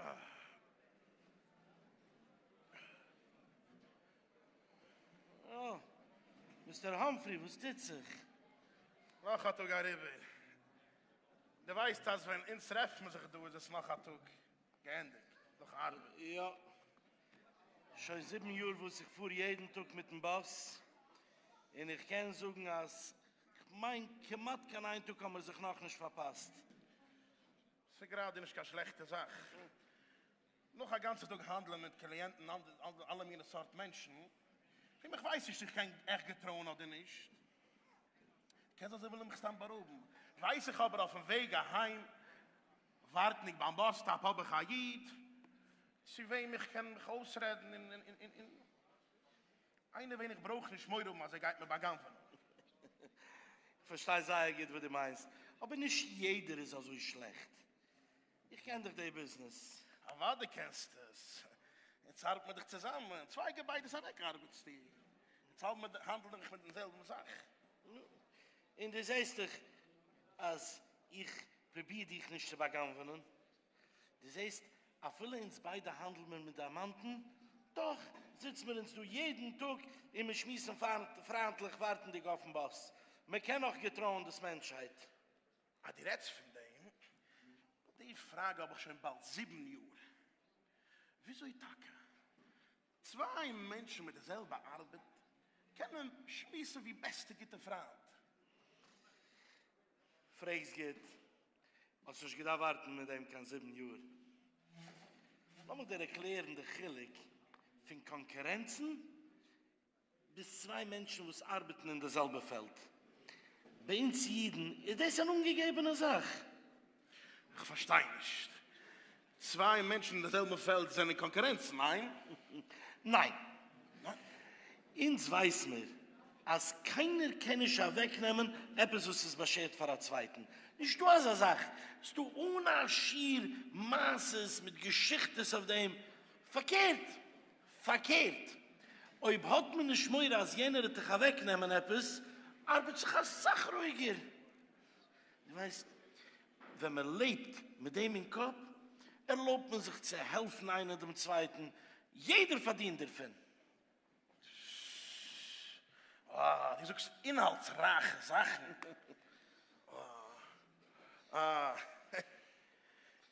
אה! מיסטער האמפרי, וואס טוט זיך? נאך א טאג אריבער. דו ווייסט אז ווען אונז טרעפן זיך דא איז עס נאך א טאג געענדיגט נאך ארבעט. יא. שוין זיבן יאר וואס איך פאר יעדן טאג מיטן באס, און איך קען זאגן אז כ'מיין כמעט קיין איין טאג האמיר זיך נאכנישט פארפאסט. ס'איז גראדע נישט קיין שלעכטע זאך, נאך א גאנצע טאג האנדלען מיט קליענטן, אלע מיני סארט מענטשן, וועם איך ווייס נישט איך קען עכט געטרויען אדער נישט, קען זיין זיי ווילן מיך סתם בארויבן, ווייס איך אבער אויפן וועג אהיים ווארטנדיג ביים באס סטאפ האב איך א איד צו וועם איך קען מיך אויסרעדן און. איינער וועם איך ברויך נישט מורא האבן אז ער גייט מיר בא'גנב'ענען. איך פארשטיי זייער גוט וואס דו מיינסט, אבער נישט יעדער איז אזוי שלעכט. איך קען דאך די ביזנעס. אוודאי קענסטו עס. יעצט הארט מען דיך צוזאמען, צוויי געביידעס אוועק ארבעטסטו. יעצט האלט האנדל איך מיט דעם זעלבן זאך. נו, און דו זעסט דאך אז איך פרוביר דיך נישט צו בא'גנב'ענען. דו זעסט, אפילו אונז ביידע האנדל מיר מיט דיימאנטן, דאך זיצן מיר אונז דא יעדן טאג און מיר שמועסן פריינטליך ווארטנדיג אויפן באס. מען קען נאך געטרויען דאס מענטשהייט? אז דו רעדסט פון דעם, די פראגע האב איך שוין באלד זיבן יאר. וויאזוי טאקע? צוויי מענטשן מיט די זעלבע ארבעט קענען שמועסן ווי בעסטע גוטע פריינט. פרעגסט גוט, האסט נישט געדארפט ווארטן מיט דעם קיין זיבן יאר. לאמיך דיר ערקלערן די חילוק פון קאנקורענצן. ביז צוויי מענטשן וואס ארבעטן אין די זעלבע פעלד. ביי אונז אידן איז דאס אן אנגעגעבענע זאך. איך פארשטיי נישט. צוויי מענטשן אין די זעלבע פעלד זענען קאנקורענץ, ניין? ניין. אונז ווייס מיר אז קיינער קען נישט אוועקנעמען עפעס וואס איז באשערט פאר א צווייטן. נישט דא אזא זאך. ס'איז דא אן א שיעור מעשות מיט געשיכטעס אויף דעם. פארקערט, פארקערט, אויב האט מען נישט מורא אז יענער וועט דיך אוועק נעמען עפעס, ארבעט זיך אסאך רואיגער. דו ווייסט, ווען מען לעבט מיט דעם אין קאפ, ערלויבט מען זיך צו העלפן איינער דעם צווייטן, יעדער פארדינט דערפון. אה, דו זאגסט אינהאלטסרייכע זאכן. אה. אה.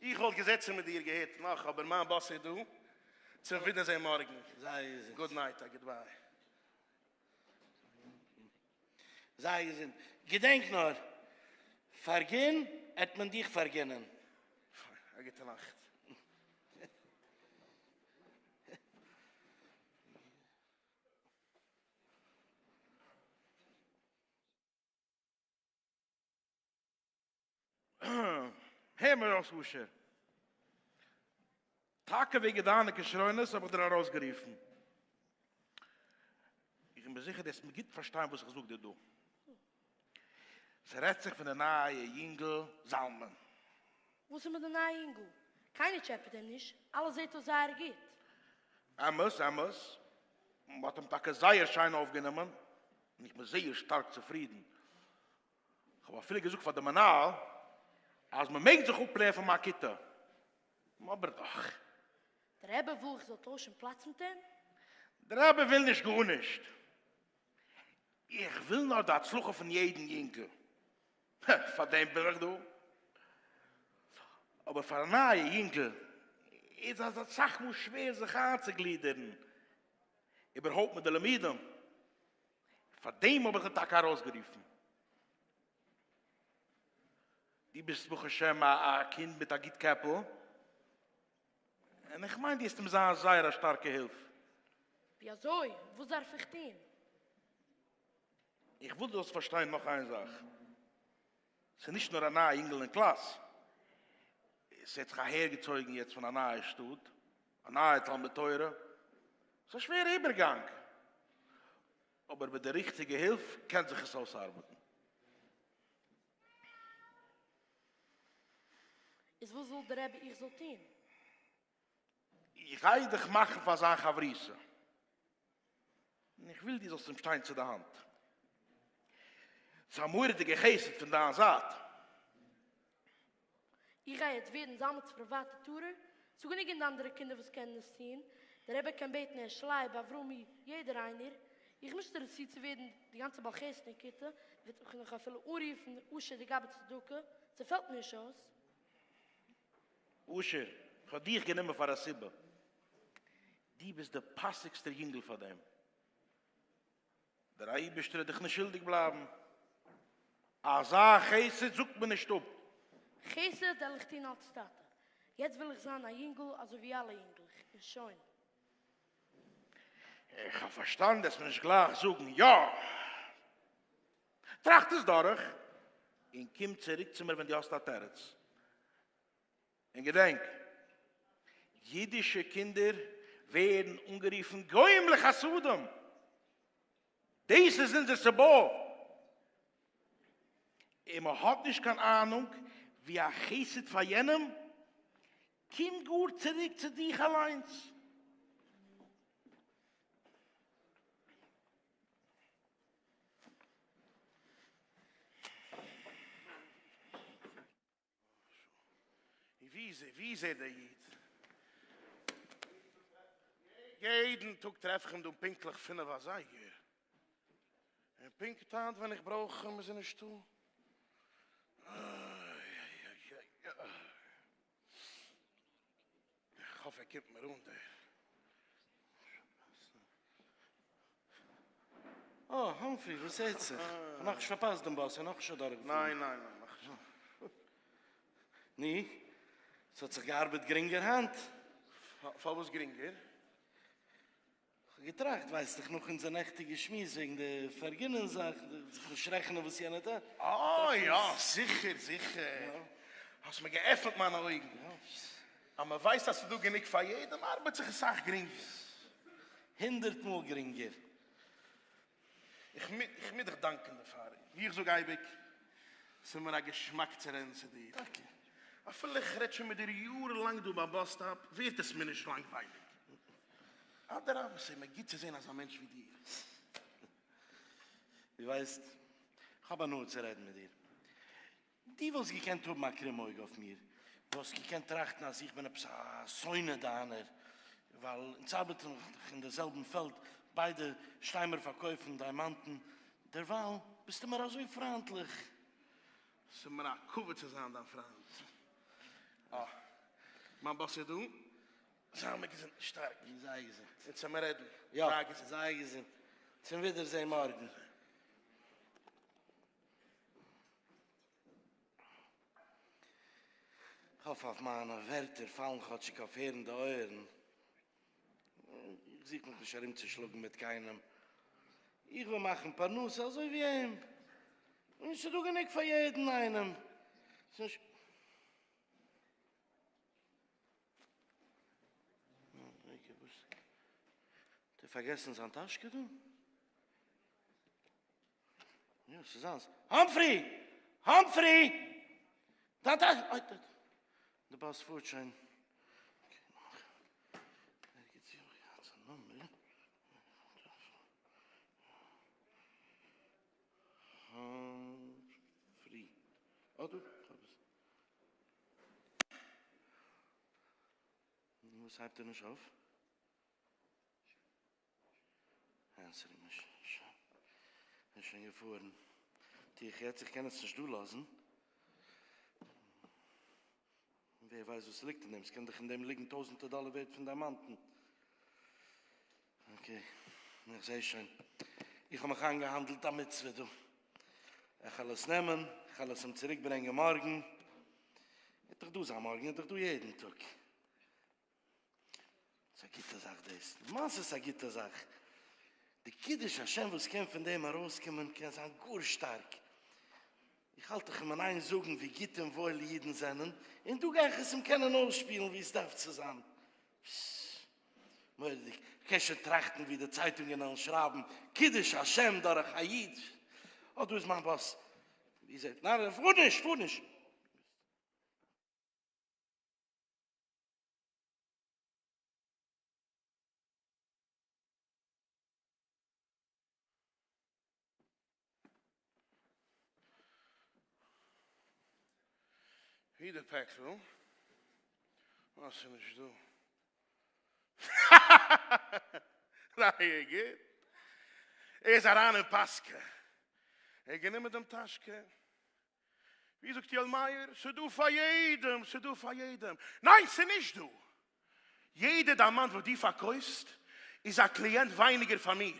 איך וואלט געזעצן מיט דיר געהערט נאך אבער מיין באס איז דא, צום ווידערזעהן מארגן, זיי געזונט. גוד נייט א גוד ביי. זיי געזונט. געדענק נאר, פארגין עט מען דיך פארגינען. פיין, א גוטע נאכט. הער מיר אויס אשר. טאקע וועגן דיינע כשרונות האב איך דיר ארויסגערופן. איך בין מיר זיכער דו העסט מיר גוט פארשטיין וואס איך זאג דיר דא. ס'רעדט זיך פון די נייע יונגל זלמן. וואס איז מיט די נייע יונגל? קיינער טשעפעט אים נישט, אלעס זעט אויס זייער גוט. אמת, אמת. מ'האט אים טאקע זייער שיין אויפגענומען, און איך בין זייער שטארק צופרידן. כ'האב אפילו געזאגט פאר די מנהל אז מ'מעג זיך אפלערנען פון מיין כיתה, נו אבער דאך. דער רבי וויל איך זאל טוישן פלאץ מיט אים? דער רבי וויל נישט גארנישט, איך וויל נאר די הצלחה פון יעדן יונגל, פאר דעם בין איך דא. אבער פאר א נייע יונגל איז אז אסאך מאל שווער זיך איינצוגלידערן איבערהויפט מיט די לימודים, פאר דעם האב איך דיר טאקע ארויסגערופן. דו ביסט ברוך השם א קינד מיט א גוט קעפל, און איך מיין דו וועסט אים זיין זייער א שטארקע הילף. ווי אזוי? וואס דארף איך טון? איך וויל דו זאלסט פארשטיין נאך איין זאך. ס'איז נישט נאר א נייע יונגעל אין קלאס, עס האט זיך אהער געצויגן יעצט פון א נייע שטאט, א נייע תלמוד תורה, ס'איז א שווערע איבערגאנג, אבער מיט די ריכטיגע הילף קען זיך עס אויסארבעטן. איז וואס וויל דער רבי איך זאל טון? איך גיי דיך מאכן פאר זיין חברותא, און איך וויל דו זאלסט אים שטיין צו די האנט. ס'איז א מורא'דיגע חסד פון דיין זייט. איך גיי יעצט ווערן זלמנ'ס פריוואטע טורער, ס'איז גענוג אין די אנדערע קינדער וואס קענען עס טון, דער רבי קען בעטן הערש לייב, אברומי, יעדער איינער. איך מושטער דיר צו צו ווערן די גאנצע בעל חסד און כיתה, וועט מיך נאך אפילו אנרופן אשר דגבי צדקה, ס'פעלט מיר נישט אויס. אשר, כ'האב דיך גענומען פאר א סיבה. דו ביסט דער פאסיגסטער יונגל פאר דעם. דער אייבערשטער וועט דיך נישט שולדיג בלייבן. אזא חסד זאגט מען נישט אפ. חסד העל איך טון אלס טאטע. יעצט וויל איך זיין א יונגל אזוי ווי אלע יונגלעך, און שוין. איך האב פארשטאנען, דו העסט מיר נישט גלייך זאגן יא. טראכט עס דורך און קום צוריק צו מיר ווען דו האסט א תירוץ. און געדענק, אידישע קינדער ווערן אנגערופן גוים לחסדם. דאס איז אונזער סבה. און מען האט נישט קיין אהנונג ווי א חסד פאר יענעם קומט גאר צוריק צו דיך אליינס. ווי איז ער דער איד? יעדן טאג טרעף איך אים דא פונקטליך פינף אזייגער, און פונקט היינט ווען איך ברויך אים איז ער נישטא. איך האף ער קומט מיר אן דער באס. אה, האמפרי, וואס טוט זיך? כ'האב נאכנישט פארפאסט דעם באס, ער איז נאכנישט אדורכגעפארן. ניין, ניין, ניין, נאכנישט. נו, ס'האט זיך געארבעט גרינגער היינט? פארוואס גרינגער? כ'האב געטראכט, ווייסט דאך נאך אונזער נעכטיגע שמועס וועגן די פארגינען זאך, זיך נישט רעכענען וואס יענער טוט. אה יא, זיכער, זיכער. האסט מיר געעפנט מיינע אויגן. אז מען ווייסט אז ס'איז דא גענוג פאר יעדעם, ארבעט זיך עס סאך גרינגער. הונדערט מאל גרינגער. איך מוז דיך דאנקען דערפאר. ווי איך זאג אייביג, ס'איז מיר א געשמאק צו רעדן צו דיר. טאקע. אפילו איך רעד שוין מיט דיר יארן לאנג דא ביים באס סטאפ, ווערט עס מיר נישט לאנגווייליג. אדרבה, ס'איז מיר גוט צו זען אזא מענטש ווי דיר. דו ווייסט, איך האב הנאה צו רעדן מיט דיר. דו וואלסט געקענט האבן א קרום אויג אויף מיר, דו וואלסט געקענט טראכטן אז איך בין עפעס א שונא דיינער, ווייל אונז ארבעטן דאך אין דער זעלבן פעלד, ביידע שטיי מיר פארקויפן דיימאנטן, דערווייל ביסטו מיר אזוי פריינטליך. ס'איז מיר א כבוד צו זיין דיין פריינט. אה, מיין באס איז דא. זיי מיר געזונט. שטארק. און זיי געזונט. און צו מיר רעדן. יא, זיי געזונט. צום ווידערזען מארגן. כ'האף אז מיינע ווערטער פאלן כאטשיג אויף הערנדע אויערן. איך זוך מיך נישט ארומצושלאגן מיט קיינעם. איך וויל מאכן פרנסה אזוי ווי אים. און ס'דא גענוג פאר יעדן איינעם. האט ער פארגעסן זיין טאשקע דא? האמפרי! האמפרי! דארט א. אוי די. די באס פארט שוין. האמפרי. אוי דא. נו וואס הייבט ער נישט אויף? ענטפער מיר שוין. כ'בין שוין געפארן. טו איך יעצט, איך קען עס נישט דא לאזן. ווער ווייסט וואס ס'ליגט אין דעם? ס'קען דאך אין דעם ליגן טויזנטער דאלער ווערד פון דיימאנטן. אקעי, איך זע שוין. איך האב מיך איינגעהאנדלט א מצוה דא. כ'על עס נעמען, כ'על עס אים צוריקברענגען מארגן. ער וועט דאך דא זיין מארגן, ער איז דאך דא יעדן טאג. ס'איז א גוטע זאך דאס, למעשה איז עס א גוטע זאך, די קידוש השם וואס קען פון דעם ארויסקומען קען זיין גאר שטארק, איך האלט איך מין איין זאגן ווי גוט און וואויל אידן זענען, און דא גיי איך עס אים קענען אויסשפילן ווי עס דארף צו זיין, מורא'דיג, כ'קען שוין טראכטן ווי די צייטונגען וועלן שרייבן, קידוש השם דורך א איד, אה דא איז מיין באס, איר זעט, ניין פאר נישט פאר נישט. ווי די פעקל? אה ס'איז נישט דא. רייע גוט. ער איז אריין אין פאסקע. ער האט גענומען דעם טאשקע. ווי זאגט יואל מאיר, ס'דא פאר יעדעם, ס'דא פאר יעדעם. ניין ס'איז נישט דא! יעדע דיימאנט וואס דו פארקויפסט איז א קליענט ווייניגער פאר מיר.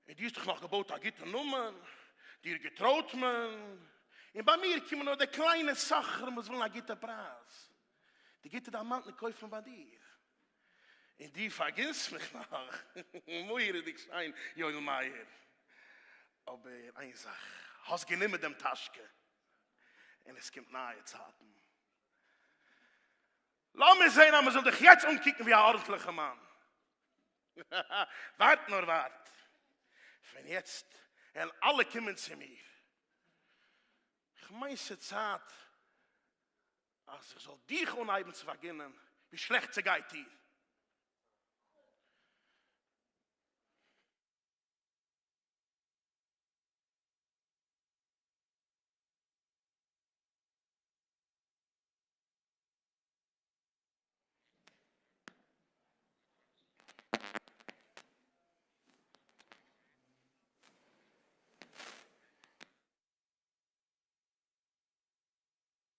און דו האסט דיך נאך געבויט א גוטע נאמען, דיר געטרויט מען, און ביי מיר קומען נאר די קליינע סוחרים וואס ווילן א גוטע פרייז. די גוטע דיימאנטן קויפן ביי דיר. און דו פארגינס מיך נאר מורא'דיג שיין יואל מאיר, אבער איין זאך, האסט גענומען דעם טאשקע און עס קומט נייע צייטן. לאמיר זען אז מען זאל דיך יעצט אנקוקן ווי א ארנטליכע מאן. ווארט נאר ווארט, פון יעצט וועלן אלע קומען צו מיר. כ'מיין ס'צייט אז איך זאל דיך אנהייבן צו פארגינען ווי שלעכט ס'גייט דיר.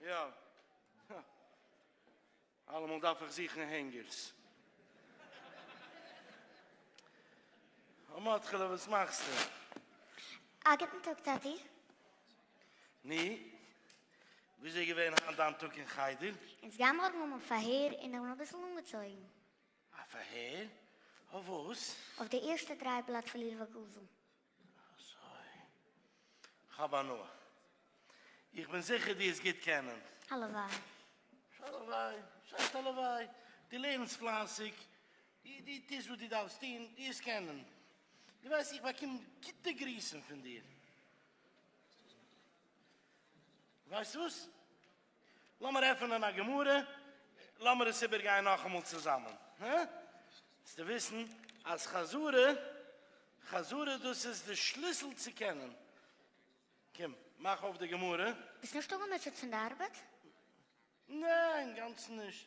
יא, הא. אלעמאל דארף איך זוכן הענגערס. מאטכעלע וואס מאכסטו? א גוטן טאג טאטי. נו, וויאזוי איז געווען היינט דיין טאג אין חדר? אונז גייען מארגן האבן א פארהער און איך בין אביסל אנגעצויגן. א פארהער? אויף וואס? אויף די ערשטע דריי בלאט פון לולבא גזע. אזוי. כ'האב הנאה. איך בין זיכער דו וועסט גוט קענען. הלוואי. הלוואי. שייסט הלוואי. דו לערנסט פלייסיג. דו טוסט וואס דו דארפסט טון. דו וועסט קענען. דו ווייסט איך באקום גוטע גריסן פון דיר. ווייסט וואס? לאמיר עפענען א גמרא, לאמיר עס איבערגיין נאכאמאל צוזאמען, הא? זאלסטו וויסן אז חזרה, חזרה דאס איז די שליסל צו קענען. קום, מאך אויף די גמרא. ביסט נישט אפגעמוטשעט פון די ארבעט? ניין, אינגאנצן נישט.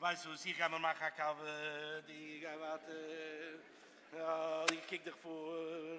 ווייסט וואס, איך גיי מיר מאכן א קאווע, דו גיי ווייטער, איך קוק דיך פאר.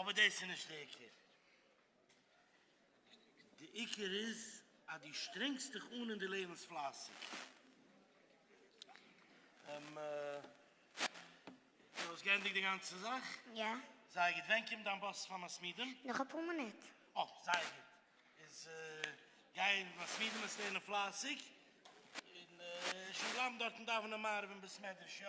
אבער דאס איז נישט די עיקר, די עיקר איז אז דו שטרענגסט דיך אן און דו לערנסט פלייסיג, און דו האסט געענדיגט די גאנצע זאך? יא. זייער גוט, ווען קומט דיין באס פאר מסמידים? נאך אפאר מינוט. אה, זייער גוט, איז גיי אין מסמידים וועסט לערנען פלייסיג, און שוין בלייבן דארטן דאווענען מעריב אין בית מדרש, יא?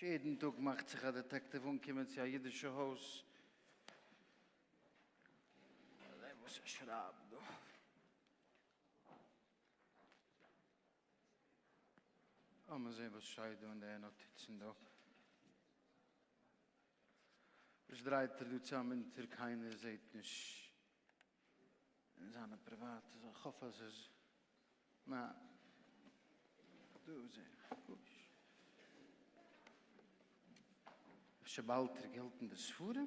ש. יעדן טאָג מאַכט זיך אַ דעטעקטיוו אָנקומען צו אַ ייִדישע הויז. זען וואָס ער שרײַבט דאָ. לאָמיר זען וואָס שטייט דאָ אין די נאָטיצן דאָ. וואס דרייט ער דא צאם אונטער קיינער זעהט נישט אין זיינע פריוואטע זאכן כ'האף אז איז נא דא זעה איך גארנישט אפשר באלט ער געלט אין די ספרים.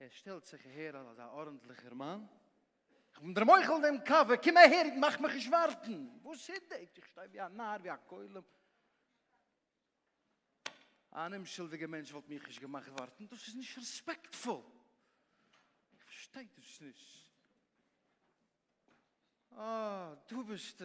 ער שטעלט זיך אהער אלס א ארנטליכער מאן, איך בין דער מוחל דעם קאווע, קום אהער איד מאך מיך נישט ווארטן, וואס איז דעיס, איך שטיי ווי א נאר, ווי א גולם, אן אומשולדיגער מענטש וואלט מיך נישט געמאכט ווארטן, דאס איז נישט רעספעקטפול, איך פארשטיי דאס נישט, אה דא ביסטו.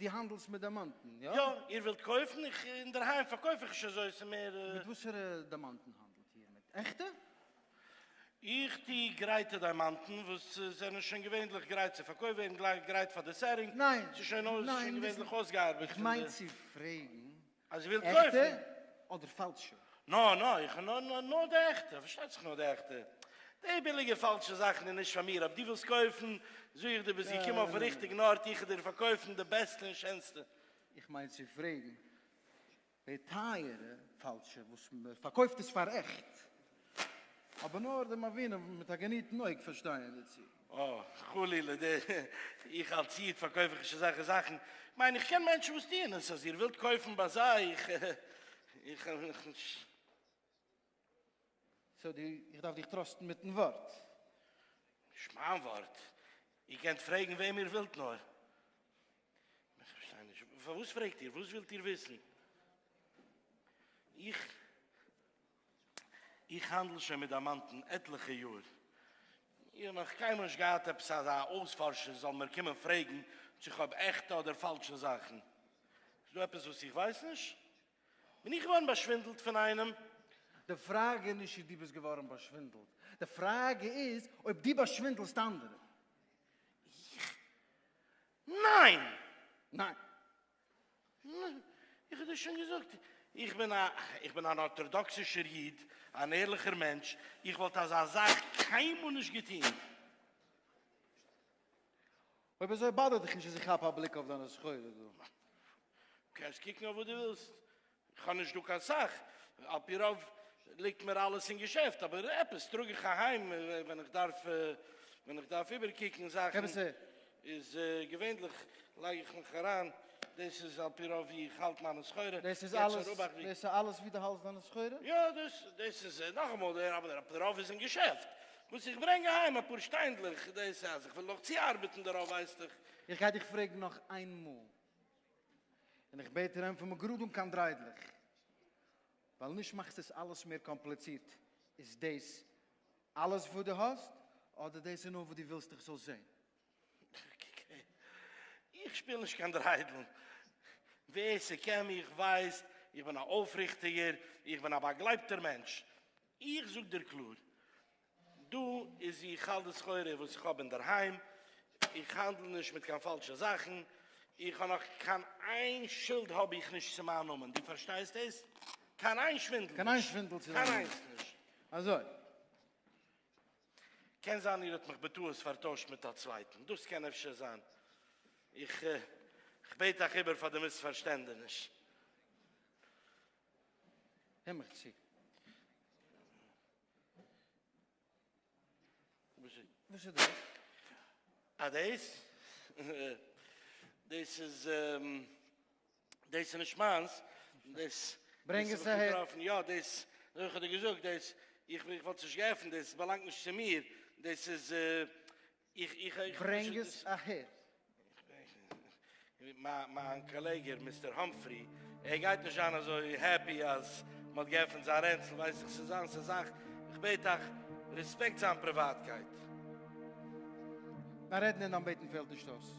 דו האנדלסט מיט דיימאנטן, יא? יא, איר ווילט קויפן? איך, אינדערהיים פארקויף איך נישט אזוי, ס'איז מער. מיט וואסערע דיימאנטן האנדלט איר? מיט עכטע? איך טו גרייטע דיימאנטן, וואס זענען שוין געווענדליך גרייט צו פארקויפט ווערן, גרייט פאר די סעטינג, ס'איז שוין געווענדליך אויסגעארבעט פון די. איך מיין צו פרעגן אז איר ווילט קויפן. עכטע אדער פאלשע? נא נא, איך האב נאר נאר נאר די עכטע, פארשטייט זיך נאר די עכטע. די ביליגע פאלשע זאכן איז נישט פאר מיר, אויב דו ווילסט קויפן, זאג איך דיר ביז איך קום אויפן ריכטיגן ארט, איך וועל דיר פארקויפן די בעסטע און שענסטע. איך מיין צו פרעגן, די טייערע פאלשע וואס מ'פארקויפט עס פאר עכט, אבער נאר די מבינים מיט א געניטן אויג פארשטייען דערצו. אה, חלילה, די, איך אלס איד פארקויף איך נישט אזעלכע זאכן. איך מיין איך קען מענטשן וואס טוען עס, אז איר ווילט קויפן ביי זיי, איך, איך האב מיך נישט. סאו דו, איך דארף דיך טראסטן מיטן ווארט? נישט מיין ווארט, איר קענט פרעגן וועם איר ווילט נאר. איך פארשטיי נישט, פארוואס פרעגט איר? וואס ווילט איר וויסן? איך, איך האנדל שוין מיט דיימאנטן עטליכע יאר, איך האב נאך קיינמאל נישט געהאט עפעס אזא אויספארשער זאל מיר קומען פרעגן צו איך האב עכטע אדער פאלשע זאכן. איז דא עפעס וואס איך ווייס נישט? בין איך געווארן באשווינדלט פון איינעם? די פראגע איז נישט צו דו ביסט געווארן באשווינדלט, די פראגע איז אויב דו באשווינדלסט אנדערע. איך? ניין! ניין! איך האב דיר שוין געזאגט, איך בין א, איך בין אן ארטאדאקסישער איד, אן ערליכער מענטש, איך וואלט אזא זאך קיינמאל נישט געטון. אויב אזוי באדערט דיך נישט אז איך כאפ א בליק אויף דיינע סחורה דא. קענסט קוקן אויף וואס דו ווילסט, כ'האב נישט דא קיין סאך, על פי רוב ליגט מיר אלעס אין געשעפט, אבער עפעס טראג איך אהיים ווען איך דארף ווען איך דארף איבערקוקן זאכן, איז געווענדליך לייג איך מיך אריין, דאס איז על פי רוב ווי איך האלט מיינע סחורה, דאס איז אלעס ווי דו האלסט דיינע סחורה? יא, דאס דאס איז נאכאמאל דער אבער על פי רוב איז אין געשעפט, וואס איך ברענג אהיים אפאר שטיינדלעך, דאס אז איך וויל נאך צוארבעטן דערויף ווייסטעך. איך גיי דיך פרעגן נאך איינמאל. און איך בעט אים פון מגראד אן קיין דריידלעך, ווייל נישט מאכסטו עס אלעס מער קאמפליצירט, איז דאס אלעס וואס דו האסט, אדער דאס איז נאר וואס דו ווילסט איך זאל זען? איך שפיל נישט קיין דריידלן, ווער ס'קען מיך ווייסט, איך בין א אויפריכטיגער, איך בין א באגלייבטער מענטש, איך זאג דיר קלאר, דא איז ווי איך האלט די סחורה וואס איך האב אינדערהיים, איך האנדל נישט מיט קיין פאלשע זאכן, איך האב נאך קיין איין שולד האב איך נישט צו מיין נאמען, דו פארשטייסט דאס? קיין איין שווינדל נישט! קיין איין שווינדל צו דיין נאמען! קיין איינס נישט! אזוי. קען זיין איר האט מיך בטעות פארטוישט מיט א צווייטן, דאס קען אפשר זיין, איך בעט אייך איבער פאר די מיספארשטענדעניש. הער מיך צו. וואס איז דאס? אה דאס? דאס איז דאס איז נישט מיינס, דאס ברענג עס אהער, יא דאס איך האב דיר געזאגט דאס איך וואלט עס נישט געעפנט דאס באלאנגט נישט צו מיר, דאס איז ברענג עס אהער. מיין קאלעגע מיסטער האמפרי, ער גייט נישט זיין אזוי העפי אז מען האט געעפענט זיין רענצל, ווייס איך ס'איז זיינס א זאך, איך בעט אייך, רעספעקט זיין פריוואטקייט. ניין רעדן אין אנבעטן פעלט נישט אויס.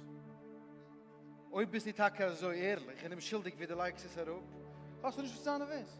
אויב ביסטו טאקע אזוי ערליך און אומשולדיג ווי דו לייגסט עס אראפ, האסטו נישט וואס צו זיין נערוועז.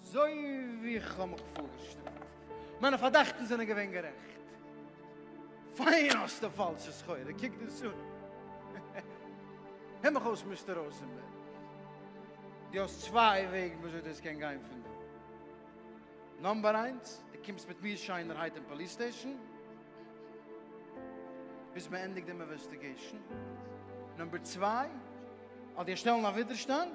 אזוי ווי איך האב מיך פארגעשטעלט. מיינע פארדאכטן זענען געווען גערעכט. פיין האסטו פאלשע סחורה, קוק דאס אן. הער מיך אויס מיסטער ראזענבערג, דו האסט צוויי וועגן וויאזוי דאס קען גיין פון דא. נאמבער איינס, דו קומסט מיט מיר שיינערהייט אין פאליס סטעישן ביז מען ענדיגט דעם אינוועסטיגעישן. נאמבער צוויי, אדער שטעלן א ווידערשטאנד.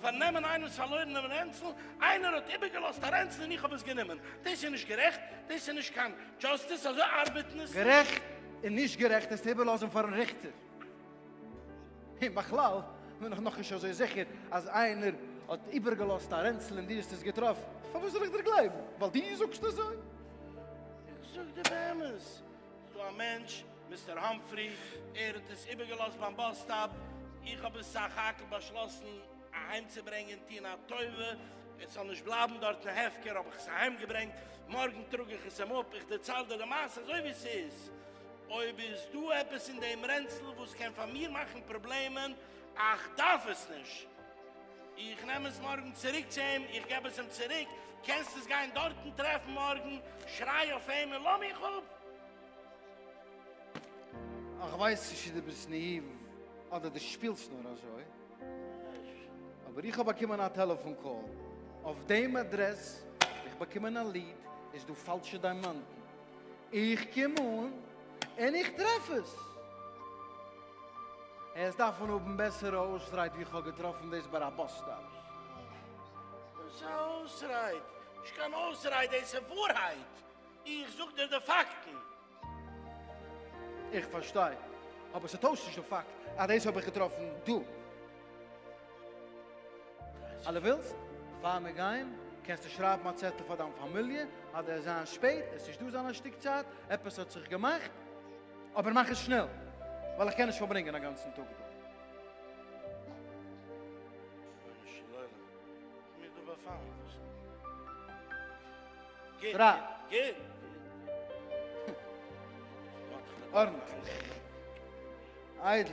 פארן נעמען איינעמס פארלוירענעם רענצל, איינער האט איבערגעלאזט א רענצל און איך האב עס גענומען, דאס איז נישט גערעכט, דאס איז נישט קיין דזשאסטיס, אזוי ארבעט עס נישט. גערעכט און נישט גערעכט עס צו איבערלאזן פארן ריכטער, און בכלל בין איך נאכנישט אזוי זיכער אז איינער האט איבערגעלאזט א רענצל און דו האסט עס געטראפן, פארוואס זאל איך דיר גלייבן ווייל דו זאגסט אזוי? איך זאג דיר באמת. דא א מענטש, מיסטער האמפרי, ער האט עס איבערגעלאזט ביים באס סטאפ, איך האב עס סך הכל באשלאסן אהיימצוברענגען, טון א טובה עס זאל נישט בלייבן דארטן הפקר, האב איך עס אהיימגעברענגט, מארגן טראג איך עס אים אפ, איך דערצייל דיר די מעשה אזוי ווי ס'איז, אויב איז דא עפעס אין דעם רענצל וואס קען פאר מיר מאכן פראבלעמען, איך דארף עס נישט. איך נעם עס מארגן צוריק צו אים, איך געב עס אים צוריק, קענסט עס גיין דארטן טרעפן מארגן, שריי אויף אים און לאמיך אפ! איך ווייס נישט צו דו ביסט נאיוו אדער דו שפילסט נאר אזוי, אבער איך האב באקומען א טעלעפאן קאל אויף דעם אדרעס, איך באקומען א ליעד, איז דא פאלשע דיימאנטן? איך קום אן און איך טרעף עס. עס דארף מען האבן בעסערע אויסרייד ווי כ'האב געטראפן דאס ביי א באס סטאפ. וואס א אויסרייד? נישט קיין אויסרייד, דאס איז ווארהייט. איך זאג דיר די פאקטן. איך פארשטיי, אבער ס'טוישט נישט די פאקט אז דאס האב איך געטראפן דא. אז דו ווילסט פאר מיר גיין קענסטו שרייבן א צעטל פאר דיין פאמיליע אז דו וועסט זיין שפעט, עס נישט דא זיין א שטיק צייט, עפעס האט זיך געמאכט, אבער מאך עס שנעל ווייל איך קען נישט פארברענגען א גאנצן טאג דא. רבונו של עולם, איך בין דא באפאלן, וואס? גוט, גוט. ארנטליך, איידל.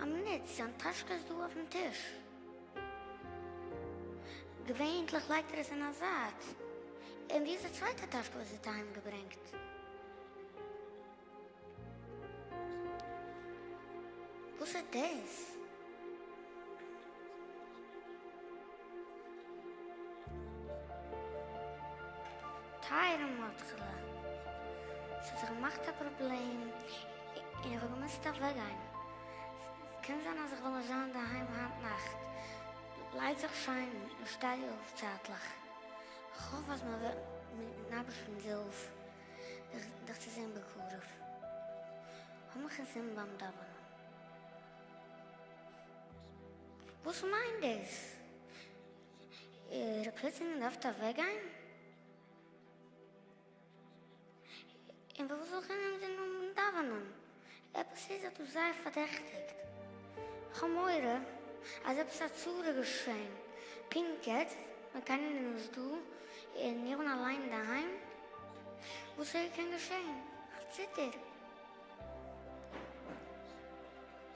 א מינוט, זיין טאשקע איז דא אויפן טיש. געווענליך לייגט ער עס אין א זייט. און ווי איז די צווייטע טאשקע וואס ער האט אהיים געברענגט? וואס איז דאס? טייערע מאטעלע, ס'האט זיך געמאכט א פראבלעם און איך האב געמוזט אוועקגיין. ס'קען זיין אז איך וועל נישט זיין אינדערהיים היינט נאכט. לייג זיך שיין און שטיי אויף צייטליך. כ'האף אז מען וועט מיט'ן אייבערשטנ'ס הילף דיך צו זען בקרוב. האב מיך אינזין ביים דאווענען. וואס מיינט דאס? איר פלוצלינג דארפט אוועקגיין? און פארוואס זאל איך אינעם זון האבן דאווענען? עפעס איז זיך דא זייער פארדעכטיגט. כ'האב מורא אז עפעס א צרה איז געשען פונקט יעצט ווען קיינער איז נישט דא און איך בין אליין אינדערהיים. וואס איר קען געשען? כ'ציטער.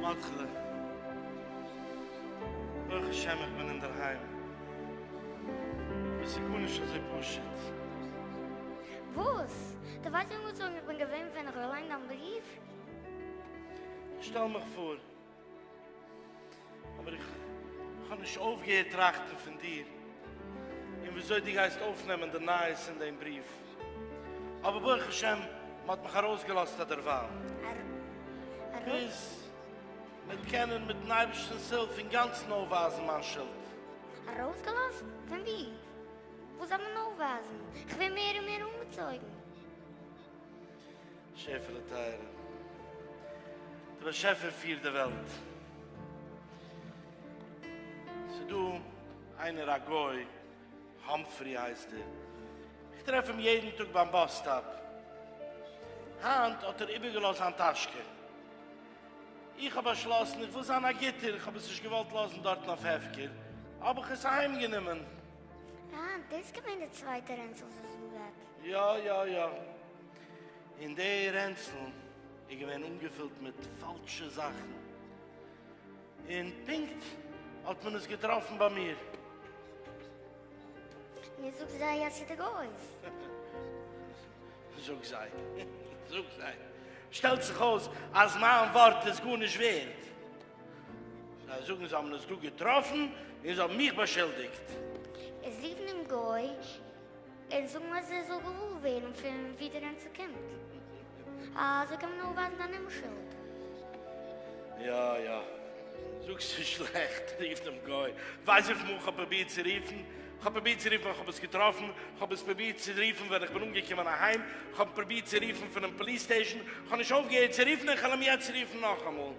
מאטכעלע, ברוך השם איך בין אינדערהיים. וואס איז גארנישט אזוי פשוט. וואס? דו ווייסט נישט וואס איך בין געווען ווען איך געליינט דיין בריוו? שטעל מיך פאר. אבער איך האב נישט אויפגעהערט טראכטן פון דיר און וויאזוי דו גייסט אויפנעמען די נייעס אין דעם בריוו. אבער ברוך השם מען האט מיך ארויסגעלאזט א דערווייל, ביז מ'וועט קענען מיט'ן אייבערשטנ'ס הילף אינגאנצן אויפווייזן מיין שולד. ארויסגעלאזט? פון וואו? וואס דארף מען אויפווייזן? איך ווער מער און מער אנגעצויגן. שעפעלע טייערע. דער באשעפער פירט די וועלט. ס'איז דא איינער א גוי, האמפרי הייסט ער, איך טרעף אים יעדן טאג ביים באס סטאפ. היינט האט ער איבערגעלאזט זיין טאשקע. איך האב באשלאסן איך וויל זיין א גוטער, איך האב עס נישט געוואלט לאזן דארטן אויף הפקר, האב איך עס אהיימגענומען. אה, דאס איז געווען די צווייטע רענצל זזג. יא יא יא. און די רענצל איז געווען אנגעפילט מיט פאלשע זאכן, און פונקט האט מען עס געטראפן ביי מיר. און זאג זיי אז ס'דא גוי'ס. זאג זיי, זאג זיי, שטעלט זיך אויס אז מיין ווארט איז גארנישט ווערד. זיי זאגן זיי האבן עס דא געטראפן און זיי האבן מיך באשולדיגט. איז רופן דעם גוי. און זאגן אז ער זאל געוואר ווערן פון ווי די נענצע קומט, אזוי קען מען אויפווייזן דיין אומשולד. יא יא, זאגסטו שלעכט, רוף דעם גוי, ווייז וויפיל מאל כ'האב פרובירט צו רופן, כ'האב פרובירט צו רופן ווען כ'האב עס געטראפן, כ'האב עס פרובירט צו רופן ווען כ'בין אנגעקומען אהיים, כ'האב פרובירט צו רופן פונעם פאליס סטעישאן, כ'האב נישט אויפגעהערט צו רופן און כ'וועל אים יעצט רופן נאכאמאל.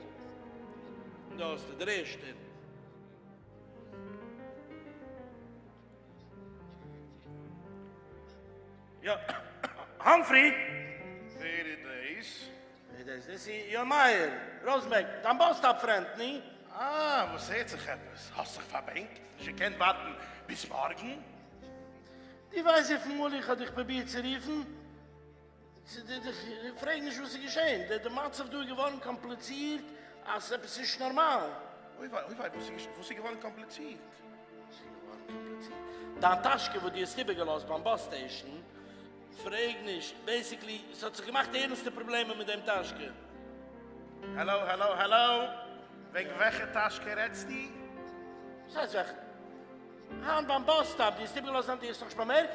דא האסטו דער ערשטער. יא האמפרי ווער איז דעיס? ווער איז דעיס? יא מאיר ראזענבערג דיין באס סטאפ פרענד ני? אה וואס הערט זיך עפעס? האסט זיך פארבענקט? נישט געקענט ווארטן ביז מארגן? די ווייסט וויפיל מאל איך האב דיך פרובירט צו רופן? איך פרעג נישט וואס איז געשען, די מצב דא איז געווארן קאמפליצירט אז עפעס נישט נארמאל. אוי וויי, אוי וויי, וואס איז געווארן קאמפליצירט? וואס איז געווארן קאמפליצירט? דיין טאשקע וואס דו האסט איבערגעלאזט ביים באס סטעישן? פרעג נישט, בעיסיקלי ס'האט זיך געמאכט ערנסטע פראבלעמען מיט דעם טאשקע. האלאו האלאו האלאו, וועגן וועלכע טאשקע רעדסטו? וואס הייסט וועלכע? היינט ביים באס סטאפ, דו האסט איבערגעלאזט דיין, דו האסט נאך נישט באמערקט?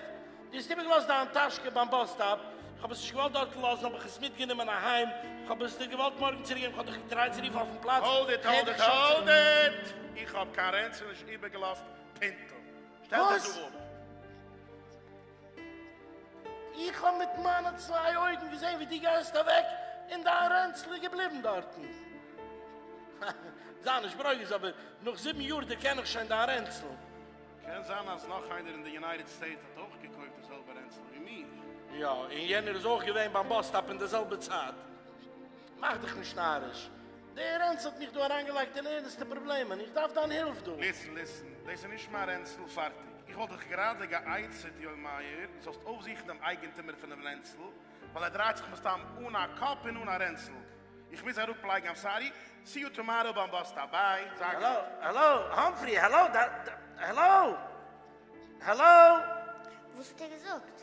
דו האסט איבערגעלאזט דיין טאשקע ביים באס סטאפ, איך האב עס נישט געוואלט דארט לאזן האב איך עס מיטגענומען אהיים, איך האב עס דיר געוואלט מארגן צוריקגעבן, איך האב דיך געטרייט צו רופן אויפן פלאץ, האלד איט האלד איט האלד איט, איך האב קיין רענצל נישט איבערגעלאזט פינטל, שטעל דיך דא אפ. איך האב מיט מיינע צוויי אויגן געזען ווי דו גייסט אוועק און דיין רענצל איז געבליבן דארטן. זיי נישט ברוגז אבער נאך זיבן יאר דערקען איך שוין דיין רענצל. קען זיין אז נאך איינער אין די יונייטעד סטעיטס האט אויך געקויפט די זעלבע רענצל ווי מיר. יא, און יענער איז אויך געווען ביים באס סטאפ אין די זעלבע צייט. מאך דיך נישט נאריש. די רענצל האט מיך דא אריינגעלייגט אין ערנסטע פראבלעמען, איך דארף דיין הילף דא. ליסן ליסן, דאס איז נישט מיין רענצל, פארטיג. איך וואלט דיך גראדע גע'עצה'ט יואל מאיר, דו זאלסט אויפזוכן דעם אייגענטומער פונעם רענצל, ווייל ער דרייט זיך מסתם אן א קאפ און אן א רענצל. איך מוז אראפ לייגן, איים סארי, סי יו טומאראו ביים באס סטאפ, ביי, זיי גוט. העלא, האמפרי, העלא, ד ד, העלא, העלא. וואס האט ער געזאגט?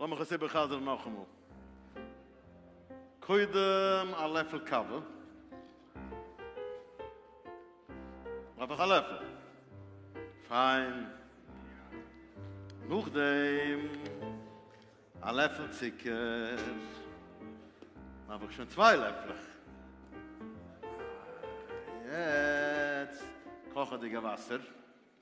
לאמיך עס איבערחזר'ן נאכאמאל. קודם א לעפל קאווע. דארף איך א לעפל. פיין. נאכדעם א לעפל צוקער. דארף איך שוין צוויי לעפלעך. יעצט קאכעדיגע וואסער.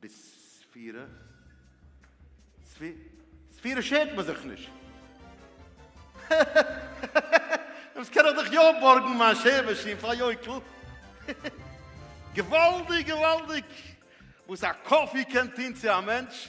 בספירה? ספירה שערט מען זיך נישט. דאס קען איך דאך יא בארגן מיין שער מאשין פאר יוקל. געוואלדיג געוואלדיג וואס א קאפי קען טון צו א מענטש.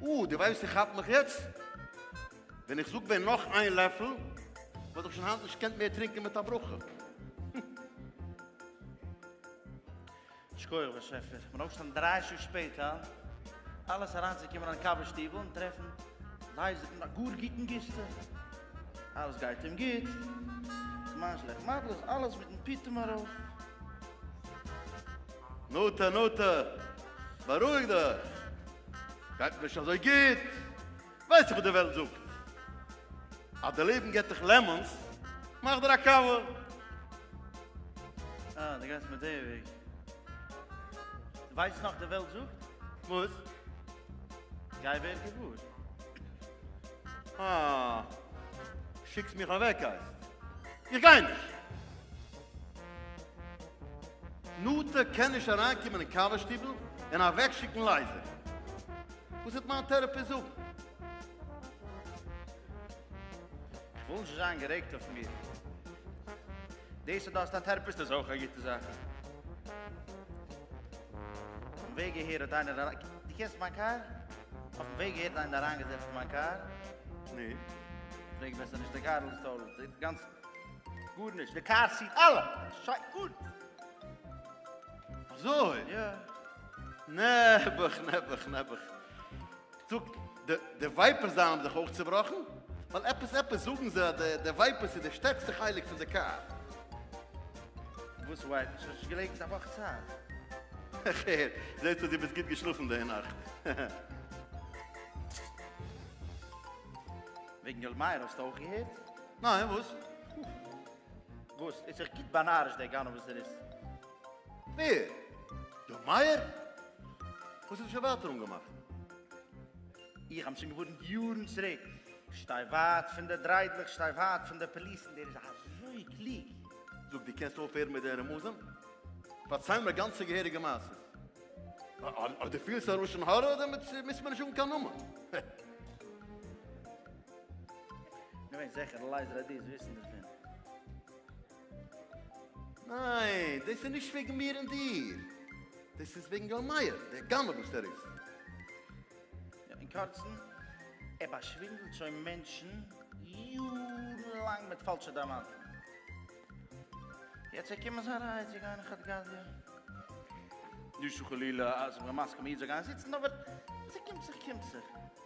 אוה, דו ווייסט איך כאפ מיך יעצט? ווען איך זאג ווען נאך איין לעפל, וואלט איך שוין היינט נישט געקענט מער טרינקען מיט א ברכה. שכוח באשעפער, מ'האט אויפגעשטאנען דריי שעה שפעט, הא? אלעס אריינצוקומען אין קאווע שטיבל און טרעפן לייזער אין א גאר גוטן גוסטע. אלעס גייט אים גוט, זמן שלעכט מזל'ס אלעס מיטן פיטום ארויף. נטע, נטע, בארואיג דיך! גייט מיר נישט אזוי גוט, ווייסט איר וואס די וועלט זאגט? אז די לעבן געט דיך לעמאנס, מאך דיר א קאווע. אה, דו גייסט מיט די וועג. דו ווייסט נאך די וועלט זאגט? וואס? גיי ווער געוואר. אה, שיקסט מיך אוועק הייסט. איך גיי נישט. נטע קען נישט אריינקומען אין קאווע שטיבל און אוועקשיקן לייזער. וואס וועט מיין טעראפיסט זאגן? איך וויל נישט זיין גערעגט אויף מיר. דאס אז דו האסט א טעראפיסט איז אויך א גוטע זאך. אויפן וועג אהער האט איינער אריין. דו קענסט מיין קאר? אויפן וועג אהער האט איינער אריינגעזעצט אין מיין קאר. נו? פרעג בעסער נישט די גארל איז טאטאל דיפרענט. גארנישט, די קאר סיט אלע שיין גוט. אזוי? יא. נעבעך נעבעך נעבעך. זאג, די די ווייפערס זיינען האבן זיך אויך צובראכן? ווייל עפעס עפעס זאגן זיי אז די די ווייפערס איז די שטערקסטע חלק פון די קאר. וואס ווייפערס? האסט נישט געלעבט א וואך צייט? איך הער, זעהט אויס דו ביסט גוט געשלאפן די נאכט. וועגן יואל מאיר האסטו אויך געהערט? ניין וואס? וואס? איז זיך גוט באנארישט דער גנב וואס ער איז. ווער? דער מאיר? וואס האט ער שוין ווייטער אנגעמאכט? איך האב שוין געווארנט יארן צוריק, שטיי ווייט פון די דריידלעך, שטיי ווייט פון די פאליסן, דער איז אזוי קלוג. זאג, דו קענסט אויפהערן מיט די רמזים? פארצייל מיר גאנצע געהעריגע מעשיות. אויב דו פילסט א לשון הרע, דעמאלט מוזט מיר נישט זאגן קיין נאמען. געווען זעכער אלייז רעדי איז וויסן דערפון. ניין, דאס איז נישט וועגן מיר און דיר, דאס איז וועגן יואל מאיר, דער גנב וואס ער איז. יא, אין קורצן, ער באשווינדלט שוין מענטשן יארן לאנג מיט פאלשע דיימאנטן. יעצט וועט קומען זיין רייע צו גיין אין חד-גדיא. נישט חלילה אז איך בין מסכים א איד זאל גיין זיצן, אבער אז ס'קומט זיך קומט זיך.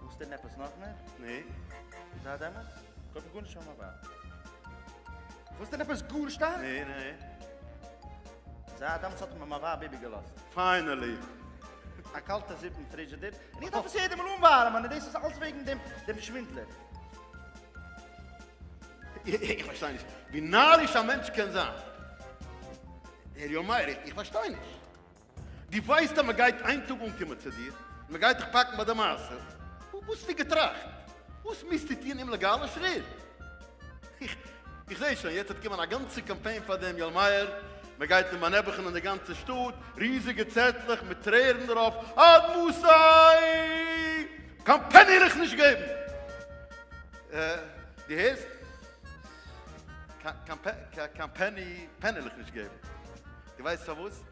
ווילסט הערן עפעס נאך מער? נעה. איז אט אמת? כ'האב גארנישט פאר מיין ווייב. ווילסט הערן עפעס גאר שטארק? נעה, נעה. איז אט אמת האט מיר מיין ווייב איבערגעלאזט. פיינעלי. א קאלטע זופ אין פרידזשידער, און איך דארף עס יעדע מאל אנווארעמען, און דאס איז אלס וועגן דעם דעם שווינדלער. איך פארשטיי נישט ווי נאריש א מענטש קען זיין. הער יא מאיר, איך פארשטיי נישט. דו ווייסט אז מען גייט איין טאג אנקומען צו דיר און מען גייט דיך פאקן ביי די מעשה, וואס וואלסטו געטראכט? וואס מוזטו טון אומלעגאלע שריט? איך איך זעה שוין, יעצט וועט קומען א גאנצע קאמפיין פאר דעם יואל מאיר, מען גייט אים באנעבעכענען די גאנצע שטאט, ריזיגע צעטלעך מיט טרערן דערויף, עד מתי! קיין פעני וועל איך נישט געבן! דו הערסט? קיין קיין פעני פעני וועל איך נישט געבן! דו ווייסט פארוואס?